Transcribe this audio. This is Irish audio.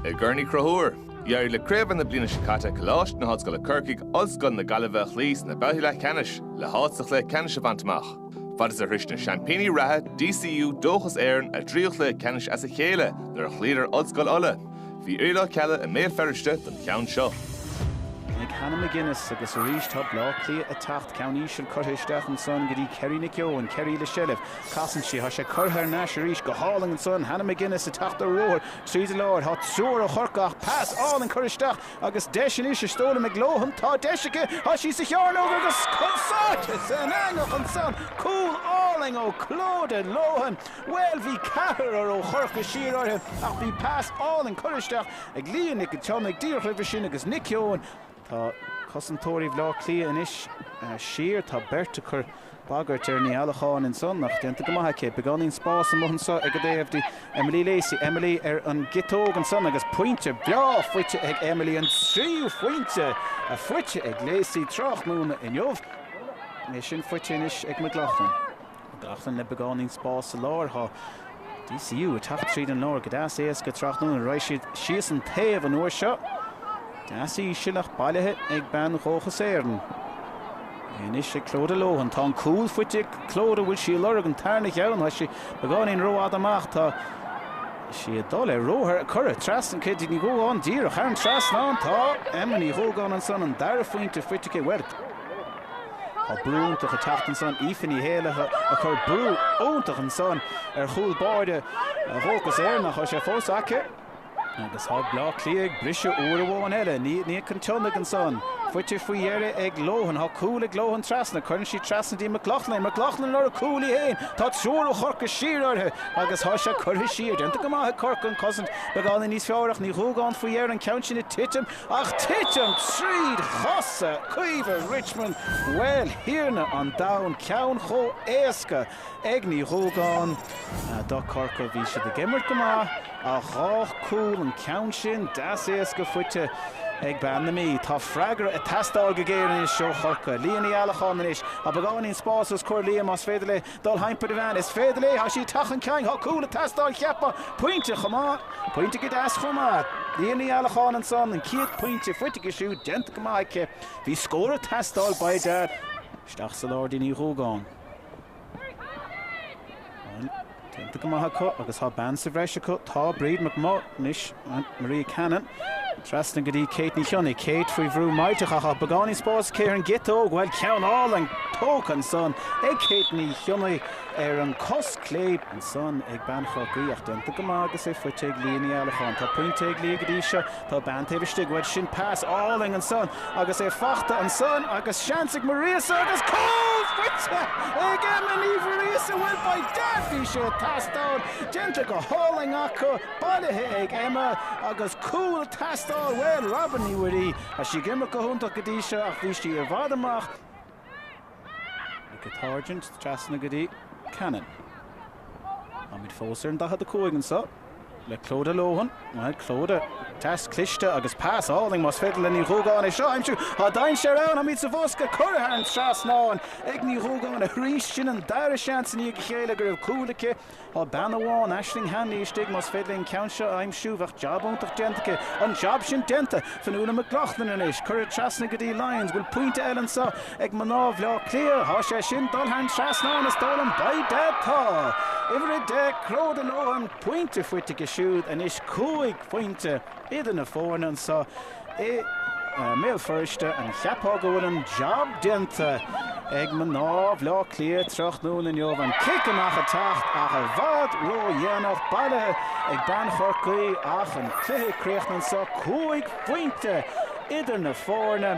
I gCorn Uí Chonchúir, d'éirigh le craobh na bliana seo caite Coláiste na hOllscoile Corcaigh, Ollscoil na Gaillimhe a chloí sna babhtaí leathcheannais le háit sa chluiche ceannais a bhaint amach. Fad is a shroich na seaimpíní reatha DCU Dóchas Éireann a dtríú cluiche ceannais as a chéile nuair a chloíodar Ollscoil Uladh, bhí Orla Kelly i mBéal Feirste don cheann seo. Ag Hannah McGuinness agus arís tá Bleá Cliath ag teacht ceann íseal curtha isteach ansan go dtí Kerry Nic Eoin, Kerry le seilbh. Casann sí, Thá sé curtha thar n-ais arís go hálainn ansan, Hannah McGuinness ag teacht ar ruathar tríd an lár, Thá triúr ó Chorcaigh ach pas álainn curtha isteach agus deis anois is dóigh liom ag Lohan, Tá deis aici, thá sí sa chearnóg agus cúl sáite san eangach ansan, Cúl álainn ó Clodagh Lohan, Bhuel bhí ceathrar ó Chorcaigh siar orthu ach bhí pas álainn curtha isteach ag Leah Nic an tSionnaigh díreach roimhe sin agus Nic Eoin, Tá cosantóirí Bhaile Átha Cliath anois siar. Tá beirt ag cur bagairt ar Ní Eallacháin ansan ach déanta go maith aici. Beagáinín spáis amuigh anso ar an dtaobh dtí Emily Lacey. Emily ar an gciotóg ansan agus pointe breá faighte ag Emily. An tríú phointe faighte ag Lacey tráthnóna inniu. É sin faighte anois ag McLaughlin. McLaughlin le beagáinín spáis sa lár. Tá DCU ag teacht tríd an lár go deas éasca tráthnóna raghaidh siad síos an taobh an uair seo. Deas í sin ach bailithe ag bean Dhóchas Éireann é anois ag Clodagh Lohan. Tá an cúl faighte ag Clodagh bhfuil sí ag lorg an tarna cheann. Tá sí beagáinín rófhada amach. Tá sí ag dul ar ruathar curtha trasna go dtí Ní Dhúgáin díreach thar an trasnán. Tá Emma Ní Dhúgáin ansan, an dara phointe faighte aici. Bhuel. Tá brú iontach ag teacht ansan, Aoife Ní Éalaithe ag cur brú iontach ansan ar chúl báire Dhóchas Éireann ach, tá sé fós aice agus tá Bleá Cliath ag briseadh uair amháin eile, Niamh Nic an tSionnaigh ansan, faighte faoi dheireadh ag Lohan, tá cúl ag Lohan trasna, cuireann sí trasna dtí McLoughlin, McLoughlin ag lorg cúl í fhéin, tá triúr ó Chorcaigh siar uirthi agus tá sé curtha siar, déanta go maith ag Corcaigh an cosaint, beagáinín níos fearr ach Ní Dhúgáin faoi dheireadh, an ceann sin ag titim, Ach titim trí chosa Caoimhe Richmond, bhuel, thiarna an domhain, ceann chomh héasca ag Ní Dhúgáin. Do Chorcaigh, bhí siad ag imirt go maith ach dhá cúl, an ceann sin deas éasca faighte ag bean na Mí. Tá freagra ag teastáil go géar anois ó Chorcaigh. Leah Ní Allacháin anois. Tá beagáinín spáis os comhair Leah más féidir léi Dul thimpeall ar an bhean, is féidir léi, tá sí ag teacht chun cinn tá cúl ag teastáil cheapfá, pointe chomh maith, pointe go deas chomh maith. Leah Ní Allacháin ansan, an chéad phointe faighte aici siúd, déanta go maith aici. Bhí scór ag teastáil, ba é Dar. Isteach sa lár dtí Ní Dhúgáin. Bhuel, déanta go maith acu agus tá bean sa bhreis acu, tá Bríd McManus, Maria Cannon. Trasna go dtí Kate Ní Chionnaith. Kate faoi bhrú láithreach ach beagáinín spáis aici ar an gciotóg. Bhuel, ceann álainn tógtha ansan ag Kate Ní Chionnaith ar an cos chlé. Ansan ag bean Chorcaí ach déanta go maith agus é faighte ag Leah Ní Eallacháin. Tá pointe ag Leah go dtí seo. Tá bean taobh istigh. Bhuel, sin pas álainn ansan agus é faighte ansan agus seans ag Muiríosa agus cúl! Faighte ag Emma Ní Mhuiríosa! Bhuel, by dad bhí sé ag teastáil. Déanta go hálainn acu. Bailithe ag Emma agus cúl ag teastáil bhuel Robyn Ní Mhuirí tá sí ag imirt go hiontach go dtí seo ach bhí sí i bhfad amach ag an táirgint trasna go dtí Cannon táimid fós ar an 45 anseo le Clodagh Lohan bhuel Clodagh deas cliste agus pas álainn más féidir le Ní Dhúgáin é seo a aimsiú tá dainséar ann táimid sa bhosca curtha thar an trasnán ag Ní Dhúgáin arís sin an dara seans i ndiaidh a chéile go raibh cúl aici Tá bean amháin, Aisling Hanley, istigh, más féidir léi an ceann seo a aimsiú, bheadh jab iontach déanta aici. An jab sin déanta! Fionnuala McLaughlin anois, cuireadh trasna go dtí Lyons, bhfuil pointe eile anseo ag mná Bhleá Cliath? Tá sé sin, dul thar an trasnán, is dóigh liom, by dad, tá! Uimhir a deich, Clodagh Lohan, pointe faighte aici siúd, anois cúig phointe idir na foirne anseo. I mBéal Feirste, an gceapfá go bhfuil an jab déanta ag mná Bhleá Cliath tráthnóna inniu? An cic amach ag teacht ach i bhfad ró-dhéanach, bailithe ag bean Chorcaí ach an cluiche ag críochnú anseo, cúig phointe idir na foirne.